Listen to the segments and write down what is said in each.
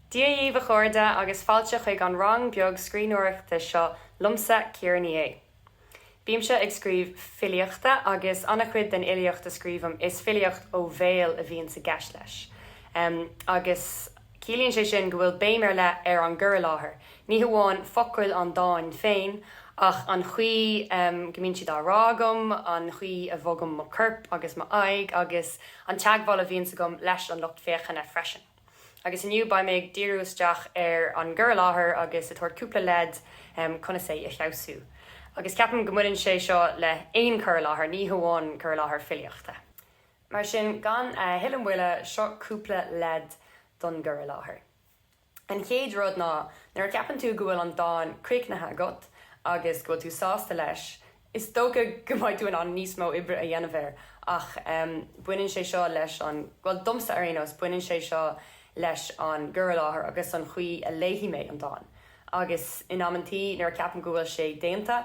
Dia dhíbh a chairde agus fáilte chuig an rang beag scríbhneoireachta seo liomsa, Ciara Ní É. Bímse ag scríobh filíochta agus an-chuid den fhilíocht a scríobhaim is filíocht ó bhéal a bhíonns i gceist leis. Agus. Ciallaíonn sé sin go bhfuil béim ar leith ar an gcur i láthair, ní hamháin focail an dáin féin, ach an chaoi go mbíonn siad á rá agam, an chaoi a bhogaim mo chorp agus m'aghaidh, agus an teagmháil a bhíonns agam leis an lucht féachana freisin. Agus inniu, beidh mé ag díriú isteach ar an gcur i láthair agus ag tabhairt cúpla leid conas é a fheabhsú. Agus ceapaim go mbaineann sé seo le haon chur i láthair, ní hamháin cur i láthair filíochta. Mar sin, gan a thuilleadh moille, seo cúpla leid don gcur i láthair. An chéad rud ná, nuair a cheapann tú go bhfuil an dán críochnaithe agat agus go bhfuil tú sásta leis, is dócha go mbeidh tú in ann níos mó oibre a dhéanamh air, ach baineann sé seo leis an, bhuel, domsa ar aon nós, baineann sé seo leis an gcur i láthair agus an chaoi a léifidh mé an dán. Agus in amanntaí, nuair a cheapaim go bhfuil sé déanta,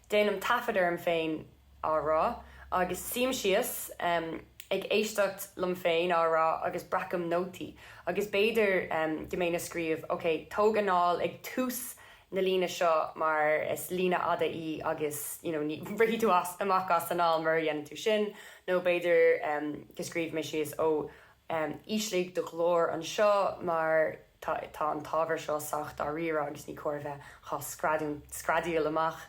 déanaim taifead orm féin á rá, agus suím síos ag éisteacht liom féin á rá agus breacaim nótaí, agus b'fhéidir go mbeinn ag scríobh, ok, tóg anáil ag tús na líne seo mar is líne fhada í agus you know ní rithfidh tú as, amach as anáil mura ndéanann tú sin, nó b'fhéidir go scríobhfaidh mé síos, ó, ísligh do ghlór anseo mar. Tá an t-ábhar seo sách dáiríre agus ní cóir a bheith á screadaíl amach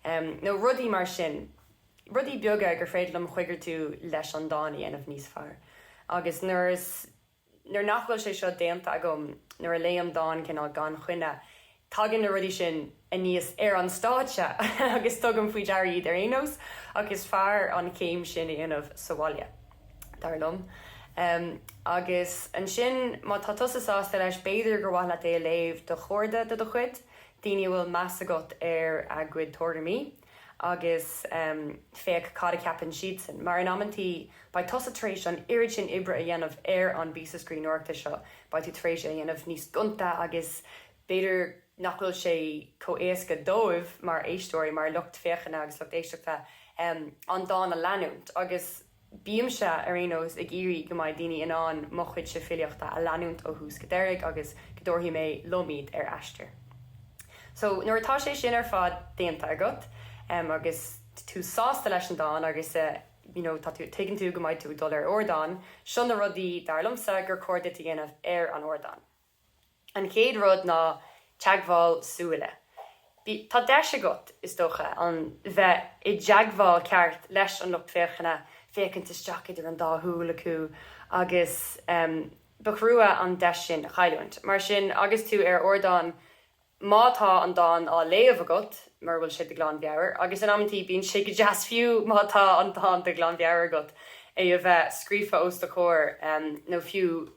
nó rudaí mar sin. Rudaí beaga gur féidir liom a choigeartú leis an dán a dhéanamh níos fearr. Agus nuair nach bhfuil sé seo déanta agam nuair a léim dán cineál gan choinne, Tagann na rudaí sin aníos ar an stáitse agus tugaim faoi deara iad ar aon nós, ach is fearr an chéim sin a dhéanamh sa bhaile, dar liom. Agus ansin, má tá tusa sásta leis, b'fhéidir gur mhaith leat é a léamh do chairde de do chuid, daoine a bhfuil meas agat ar a gcuid tuairimí. agus féach cad a cheapann siadsan, mar in amanntaí beidh tusa tar éis an oiread sin oibre a dhéanamh ar an bpíosa scríbhneoireachta seo, beidh tú tar éis é a dhéanamh níos gonta agus b'fhéidir nach bhfuil sé chomh éasca dóibh mar éisteoirí, mar lucht féachana agus lucht éisteachta, an dán a leanúint agus. Bímse, ar aon nós, ag iarraidh go mbeidh daoine in ann mo chuidse filíochta a leanúint ó thús go deireadh agus go dtabharfaidh mé liom iad ar aistear. So, nuair atá sé sin ar fad déanta agat, em, agus tú sásta leis an dán agus eh, you know, tá tú, tuigeann tú go mbeidh tú ag dul ar ardán, seo na rudaí, dar liomsa, gur chóir duit a dhéanamh ar an ardán. An chéad rud ná teagmháil súile. Tá deis agat, is dócha, a bheith i dteagmháil ceart leis an lucht féachana, féachaint isteach idir an dá shúil acu, agus ba thrua an deis sin a chailliúint. Mar sin, agus tú ar ardán, má tá an dán á léamh agat, mura bhfuil sé de ghlanmheabhair, agus in amantaí bíonn sé go deas fiú má tá an dán de ghlanmheabhair agat, é a bheith scríofa os do chomhair, nó fiú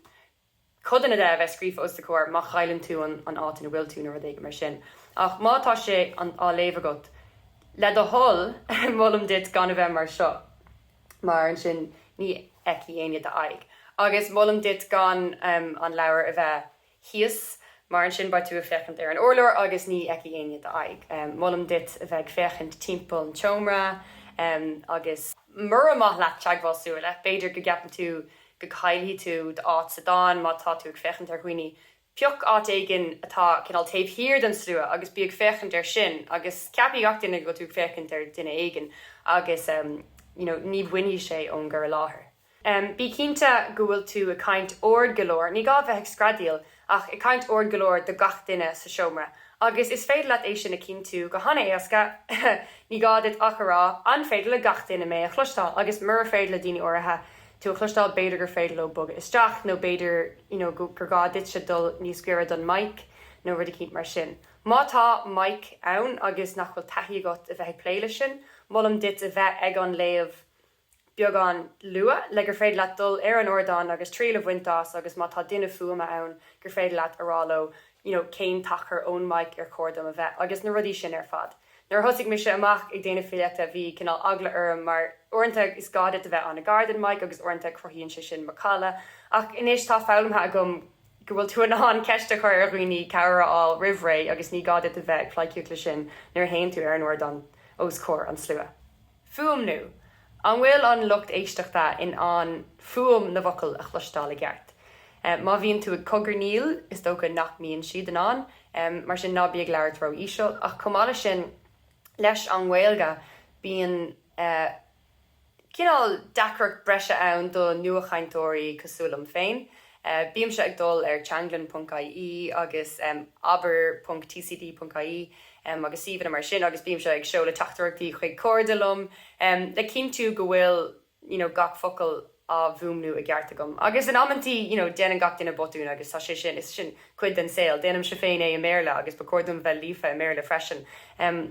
codanna de a bheith scríofa os do chomhair má chailleann tú an áit ina bhfuil tú nó rud éigin mar sin. Ach má tá sé á léamh agat, le do thoil, molaim duit gan a bheith mar seo mar ansin ní fheicfidh éinne d'aghaidh. Agus molaim duit gan an leabhar a bheith thíos mar ansin beidh tú ag féachaint ar an urlár agus ní fheicfidh éinne d'aghaidh. Molaim duit a bheith ag féachaint timpeall an tseomra agus mura maith leat teagmháil súile b'fhéidir go gceapann tú go gcaillfidh tú d'áit sa dán má tá tú ag féachaint ar dhaoine. Pioc áit éigin atá cineál taobh thiar den slua agus bí ag féachaint air sin agus ceapfaidh gach duine go bhfuil tú ag féachaint ar dhuine éigin agus you know ní bhainfidh sé ón gcur i láthair. Bí cinnte go bhfuil tú ag caint ard go leor, ní gá a bheith ag screadaíl, ach ag caint ard go leor do gach duine sa seomra, agus is féidir leat é sin a chinntiú go han-éasca, ní gá duit ach a rá, An féidir le gach duine mé a chloisteáil? agus mura féidir le daoine áirithe tú a chloisteáil, b'fhéidir gur féidir leo bogadh isteach, nó b'fhéidir you know gur gá duitse dul níos gaire don mic, nó rud eicínt mar sin. Má tá mic ann agus nach bhfuil taithí agat a bheith ag plé leis sin, molaim duit a bheith ag an léamh, beagán luath, le gur féidir leat dul ar an ardán agus triail a bhaint as agus má tá duine fuaime ann gur féidir leat a rá leo you know cén t-achar ón mic ar chóir dom a bheith agus na rudaí sin ar fad. Nuair a thosaigh mise amach ag déanamh filíochta bhí cineál eagla orm mar uaireanta is gá duit a bheith an-ghar den mic agus uaireanta cruthaíonn sé sin macalla ach anois tá foghlamtha agam go bhfuil tú in ann ceist a chur ar dhaoine, cabhair a fháil roimh ré agus ní gá duit a bheith ag pleidhcíocht leis sin nuair a théann tú ar an ardán os comhair an slua. Fuaimniú, An bhfuil an lucht éisteachta in ann fuaim na bhfocal a chloisteáil i gceart? Má bhíonn tú ag cogarnaíl, is dócha nach mbíonn siad in ann, mar sin ná bí ag labhairt ró-íseal. Ach chomh maith leis sin, leis an nGaeilge, bíonn cineál deacracht breise ann do nuachainteoirí cosúil liom féin. Bímse ag dul ar Teanglann ponc IE agus abair ponc TCD ponc IE agus suíomhanna mar sin agus bímse ag seoladh teachtaireachtaí chuig cairde liom le cinntiú go bhfuil you know gach focal á fhuaimniú i gceart agam agus in amantaí you know déanann gach duine botúin agus tá sé sin, is sin cuid den saol, déanaimse féin é i mBéarla agus ba chóir dom bheith líofa i mBéarla freisin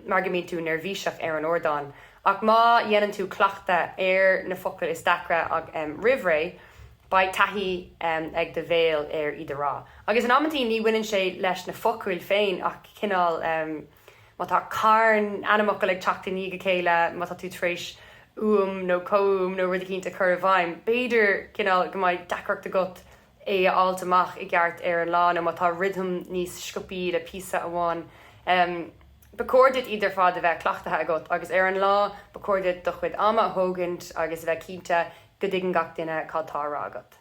mar go mbíonn tú neirbhíseach ar an ardán ach má dhéanann tú cleachtadh ar na focail is deacra roimh ré, Beidh taithí ag do bhéal ar iad a rá. Agus in amanntaí ní bhaineann sé leis na focail féin ach cineál, má tá carn ainmfhocal ag teacht i ndiaidh a chéile, má tá tú tar éis uaim nó comhuaim nó rud eicínt a chur i bhfeidhm, b'fhéidir cineál go mbeidh deacracht agat é a fháilt amach i gceart ar an lá nó má tá rithim níos sciobtha le píosa amháin. Ba chóir duit iad ar fad a bheith cleachtaithe agat agus ar an lá ba chóir duit do chuid ama a thógaint agus a bheith cinnte go dtuigeann gach duine cad tá a rá agat.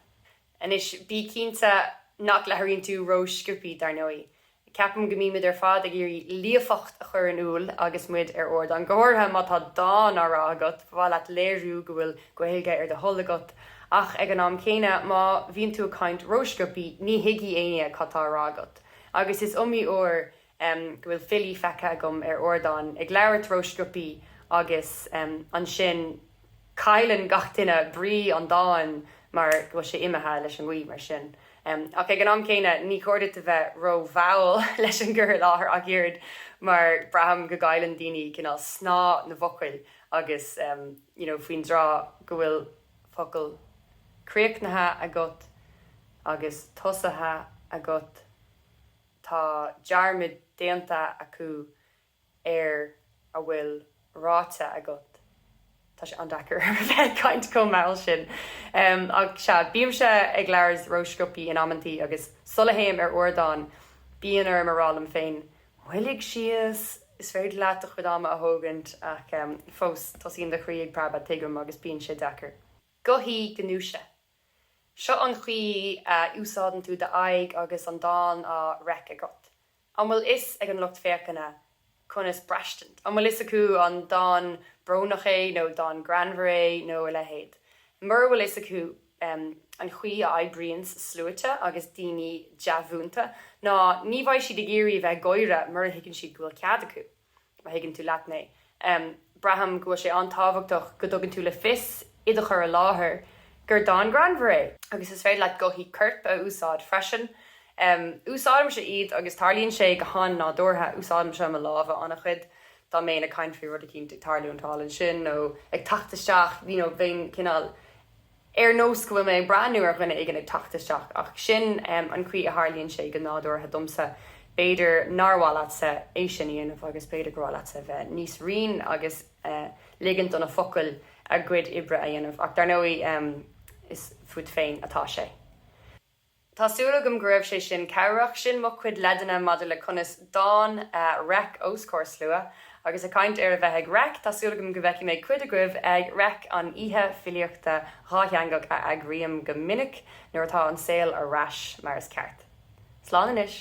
Anois, bí cinnte nach labhraíonn tú ró-sciobthaí, dar ndóigh. Ceapaim go mbímid ar fad ag iarraidh líofacht a chur in iúl agus muid ar ardán, go háirithe má tá dán á rá agat, ba mhaith leat léiriú go bhfuil Gaeilge ar do thoil agat, ach ag an am céanna, má bhíonn tú ag caint ró-sciobthaí, ní thuigfidh éinne cad tá a rá agat. Agus is iomaí uair. em, go bhfuil filí feicthe agam ar ardán ag labhairt ró-sciobthaí agus, em, ansin cailleann gach duine brí an dáin mar go bhfuil sé imithe leis an ngaoth, mar sin. Em, ach ag an am céanna, ní chóir duit a bheith ró-mhall leis an gcur i láthair ach oiread mar braithim go gcailleann daoine cineál snáth na bhfocal agus, em, you know, faoin dtráth go bhfuil focal críochnaithe agat agus tosaithe agat, Tá dearmad déanta acu ar a bhfuil ráite agat. Tá sé an-deacair a bheith ag caint chomh mall sin. Ach sea, bímse ag labhairt ró-sciobthaí in amanntaí, agus sula théim ar ardán, bíonn orm a rá liom féin, Moilligh síos, is féidir leat do chuid ama a thógaint. Ach fós, tosaíonn do chroí ag preabadh, tuigim, agus bíonn sé deacair. Gothaí gnúise, Seo an chaoi a úsáideann tú d'aghaidh agus an dán á reic agat. An bhfuil fhios ag an lucht féachana conas braistint? An bhfuil fhios acu an dán brónach é nó dán greannmhar é nó a leithéid? Mura bhfuil fhios acu an chaoi a oibríonns sluaite agus daoine dea-mhúinte, ná ní bheidh siad ag iarraidh a bheith ag gáire mura thuigeann siad go bhfuil cead acu. má thuigeann tú leat mé. Braithim go bhfuil sé an-tábhachtach go dtugann tú le fios i do chur i láthair gur dán greannmhar é. Agus is féidir leat gothaí coirp a úsáid freisin. Úsáidimse iad agus tarlaíonn sé go han-nádúrtha. Úsáidimse mo lámha an-chuid dá mbeinn ag caint faoi rud eicínt ag tarlúint thall ansin nó ag teacht isteach, you know, bheinn cineál. ar nós go bhfuil mé ag breathnú ar dhuine éigin ag teacht isteach, ach sin an chaoi a tharlaíonn sé go nádúrtha domsa. B'fhéidir nár mhaith leatsa é sin a dhéanamh agus b'fhéidir gur mhaith leatsa a bheith níos righin agus ligint do na focail a gcuid oibre a dhéanamh, ach dar ndóigh is fút féin atá sé. Tá súil agam go raibh sé sin cabhrach. Sin mo chuid leideanna maidir le conas dán a reic os comhair slua. Agus ag caint ar a bheith ag reic, tá súil agam go bhfeicfidh mé cuid agaibh ag reic an oíche filíochta dhátheangach a eagraím go minic nuair atá an saol ar ais mar is ceart. Slán anois.